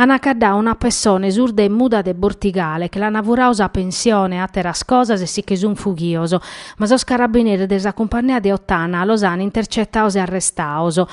An a caddau una pessone surda e muda de Bortigale che l'ana furau sa pensione e ateras cosas e si che sun fughios, ma sos carabineris de sa cumpannea de Ottana los an intercetaus e arrestaus.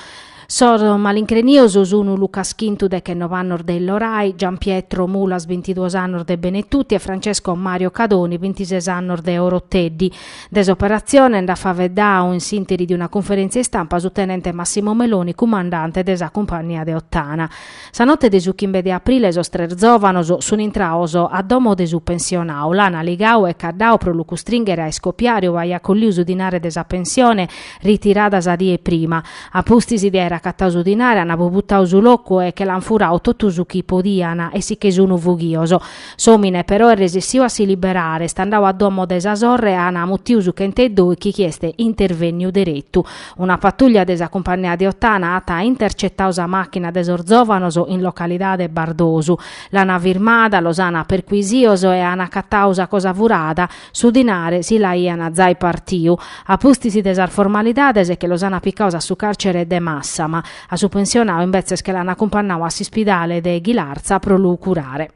Sos malincrenios sunu Luca Schintu dechennobe annos de Illorai, Gianpietro Mulas bintiduos annos de Benetutti e Francesco Mario Cadoni bintises annos de Oroteddi. De s'operatzione nd'at faeddadu in s'interi de una cunferèntzia istampa su tenente Massimo Meloni, cumandante de sa cumpannia de Ottana. Sa note 'e su chimbe de aprile sos tres zòvanos sunt intrados a domo de su pensionadu, l'ant ligadu e caddadu pro lu custrìnghere a iscobiare ue aiat collidu su dinare de sa pensione ritirada sa die prima. A pustis de aer acatadu su dinare ant abubutadu su locu e che l'ant furadu totu su chi podiant e si che sun fughidos. S'omine però est resissiu a si liberare, est andau a domo de sa sorre an a muttiu su chent'e doichi chi est intervenniu derettu. Una patuglia de sa cumpannia de Ottana at a intercettau sa machina de sos zovanos in localidade Bardosu. L'an a firmada, los an a perquisios e an accattau sa cosa furada, su dinare si l'aian a zai partiu. A pustis de sas formalidades che los an appicaus a su carcere de Massama. A su pensionau imbetzes che l'an accumpannau a s'ispidale de Ghilarza pro lu curare.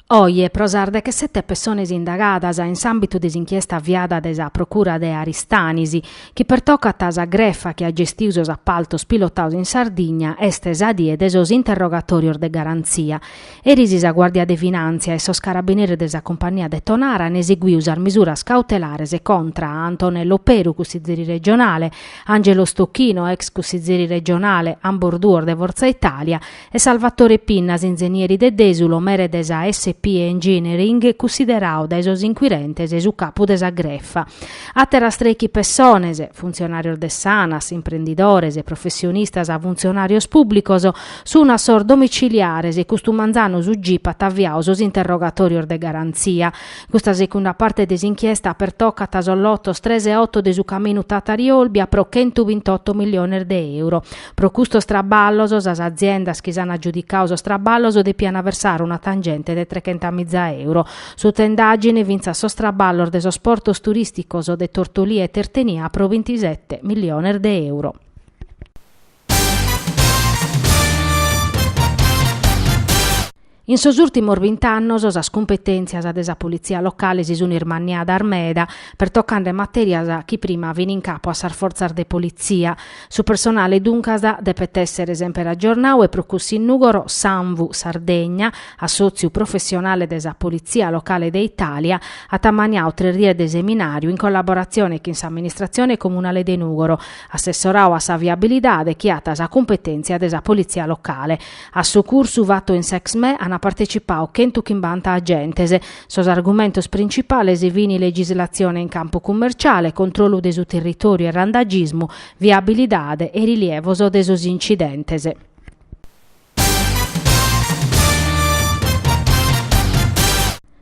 Oje, pro sas dechesete pessones indagadas in s'àmbitu de s'inchiesta aviada dae sa procura de Aristanis, chi pertocat sa grefa chi at gestidu sos apaltos pilotados in Sardigna, est sa die de sos interrogatòrios de garantzia. Eris sa Guàrdia de Finàntzia e sos carabineris de sa Cumpagnia de Tonara an eseguiu sas misuras cautelares contra a Antonello Peru, cussizeri regionale, Angelo Stocchino, ex cussizeri regionale, ambos duos de Forza Italia, e Salvatore Pinnas, inzenieri de Desulo, mere de sa SP Engineering, cussideradu dae sos inquirentes su capu de sa grefa. Àteras trechi pessones, funtzionàrios de s'Anas, imprendidores, professionistas, funtzionàrios pùblicos, Sun a sos domiciliares, custu manzanu su gip at aviadu sos interrogatòrios de garantzia. Custa segunda parte de s'inchiesta pertocat sos lotos tres e oto de su caminu Tatari-Olbia pro chentu bint'oto milliones de euro. Pro custos traballos, sas aziendas chi s'an agiudicadu sos traballos depian versare una tangente de trechentamìza euro. Sutta indàgine fintzas sos traballos de sos portos turìsticos de Tortolì e Tertenia pro bintisete milliones de euro. In sos ùrtimos bint'annos sas cumpetèntzias de sa politzia locale si sunt ismanniadas meda, pertocande matèrias chi prima fint in capu a sas fortzas de politzia. Su personale duncas depet èssere semper agiornadu e pro cussu in Nùgoro s'Anvu Sardegna, assòtziu professionale de sa politzia locale de Itàlia, at ammaniadu tres dies de seminàriu in collaboratzione chin s'amministratzione comunale de Nùgoro, assessorau a sa viabilidade chi at sa cumpetèntzia de sa politzia locale. A su cursu fatu in s'Exme ant partecipau chentu chimbanta agentes. Sos argumentos principales fin legislatzione in campu cummerciale, controllu de su territòriu e randagismu, viabilidade e rilievos de sos incidentes.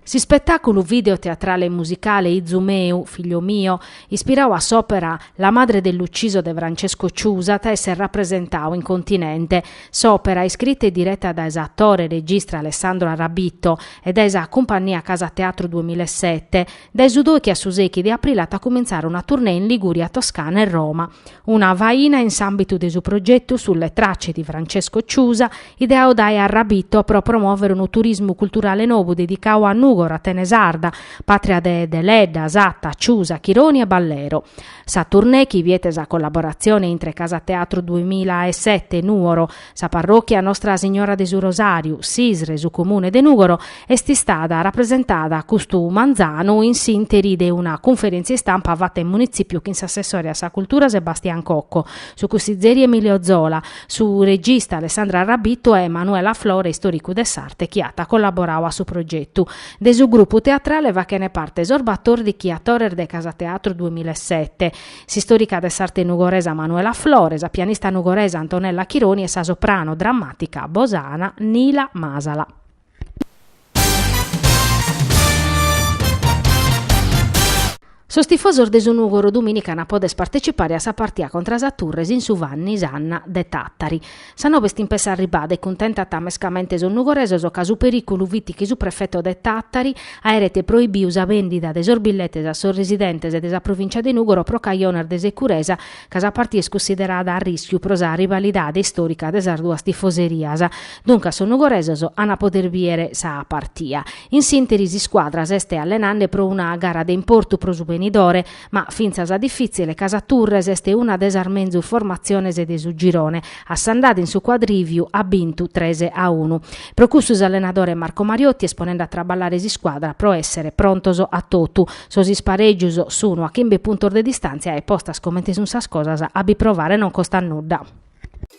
S'ispetàculu video-teatrale e musicale Izu meu, figlio mio, ispirau a s'òpera La madre dell'ucciso de Francesco Ciusa at a èssere rapresentau in Continente. S'òpera, iscrita e direta dae s'atore e regista Alessandro Arrabitto e dae sa Cumpannia Casa Teatro duemila e sete, Dae su dòichi a su sechi de aprile at a cumintzare una tournée in Liguria, Toscana e Roma. Una faina in s'àmbitu de su progetu Sulle tracce di Francesco Ciusa, ideau dae Arrabitto pro promòvere unu turismu culturale nou dedicau a Nùgoro, Atene Sarda, pàtria de Deledda, Satta, Ciusa, Chironi e Ballero. Sa tournée, chi biet sa collaboratzione intre Casa Teatro duemila e sete Nuoro, Sa parròchia Nostra Signora de su Rosàriu, Sisre, su Comune de Nùgoro, est istada rapresentada custu manzanu in s'ìnteri de una cunferèntzia istampa fata in Munitzipiu chin s'assessore a sa Cultura Sebastian Cocco, su cussizeri Emilio Zola, su regista Alessandro Arrabitto e Manuela Flore, istòricu de s'arte chi at collaborau a su progetu. De su grupu teatrale fachene parte sos batòrdichi atores de Casa Teatro duemila e sete, S'istòrica de s'arte nugoresa Manuela Flore, sa pianista nugoresa Antonella Chironi e sa soprano drammàtica bosana Nila Masala. Sos tifosos de su Nùgoro dumìnica an a poder partecipare a sa partia contra sa Turres in su Vanni Sanna de Tàtari. Sa noba est impess' arribada e cuntentat mescamente sos nugoresos ca su perìculu fit chi su prefeto de Tàtari aeret proibiu sa bèndida de sos billetes a sos residentes de sa provìntzia de Nùgoro pro cajones de securesa ca sa partia est cunsiderada a rìschiu pro sa rivalidade istòrica de sas duas tifoserias. Duncas sos nugoresos ant a poder bìere sa partia. In s'ìnteri s'iscuadra s'est allenende pro una gara de importu pro su benidore. Ma fintzas difìtzile ca sa Turres est una de sas menzus formatziones de su girone, a s'andada in su cuadrìviu at bintu tres a unu. Pro cussu s'allenadore Marco Mariotti est ponende a traballare s'iscuadra pro èssere prontos a totu. Sos isparègios sunu a chimbe puntos de distàntzia e postas comente sun sas cosas a bi provare non costat nudda.